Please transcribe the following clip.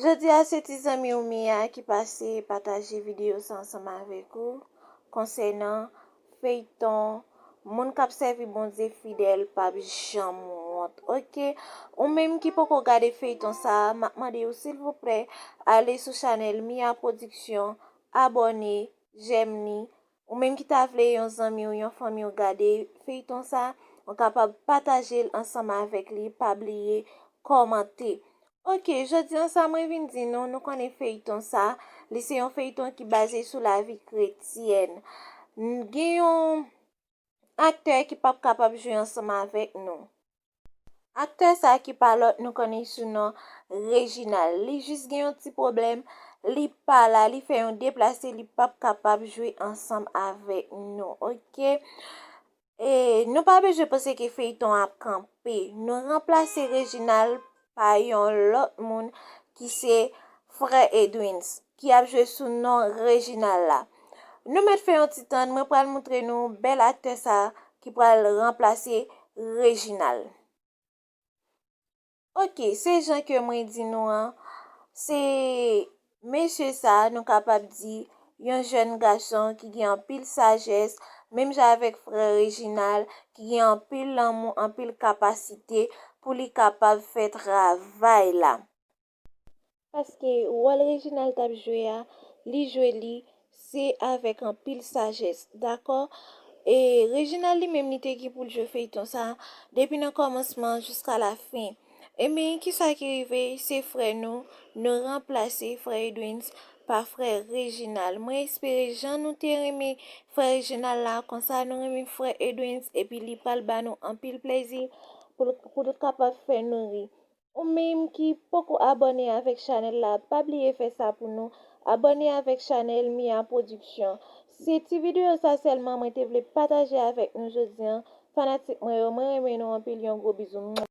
Jodi a se ti zanmi w Mia ki pase pataje videyo sa ansanm avèk ou konsènan feyton Moun kap sèvi Bondye fidèl pap janm wont ok ou menm ki poko gade feyton sa map mande w silvouplè ale sou chanèl Mia production abòne jèm ni Ou menm ki ta vle yon zanmi w yon fanmi w gade feyton sa ou kapab pataje l ansanm avèk li pa bliye kòmante ok jodi an sa mwen vin di nou nou konnen feyton sa li se yon feyton ki baze sou lavi kretyèn n gen yon aktè ki pap kapab jwe ansanm avèk nou. Aktè sa ki pa lòt nou konnen l sou non Reginald li jis gen yon ti pwoblèm li pa la li fè yon deplase li pap kapab jwe ansanm avèk nou ok e nou pa bezwen panse ke feyton an ap kanpe nou ranplase Reginald pa yon lòt moun ki se frè Edwins ki ap jwe sou non Reginald la. Nou mèt fè yon ti tann mwen pral moutre nou bèl aktè sa ki pral ranplase Reginald. Ok se jan ke mwen di nou an se Mesye sa a nou kapab di, yon jèn gason ki gen anpil sajès, menm jan avèk frè Reginald, ki gen anpil lanmou, anpil kapasite pou li kapab fè travay la. Paske wòl Reginald t ap jwe a, li jwe li Se avèk anpil sajès. Dakò E Reginald li menm li te gen pou l jwe feyton sa depi nan kòmansman an jiska la fen. Ebyn kisa ki rive se frè nou nou ranplase frè Edwins pa frè Reginald. Mwen espere jan nou te renmen frè Reginald la konsa nou renmen frè Edwins epi li pral ba nou anpil plèzi pou l kapab fè nou ri. Ou menm ki poko abòne avèk chanèl la pa bliye fè sa pou nou, abòne avèk chanèl Mia Production. Se ti videyo sa sèlman mwen te vle pataje avèk nou jodi an, fanatik mwen yo mwen renmen nou anpil yon gwo bizou.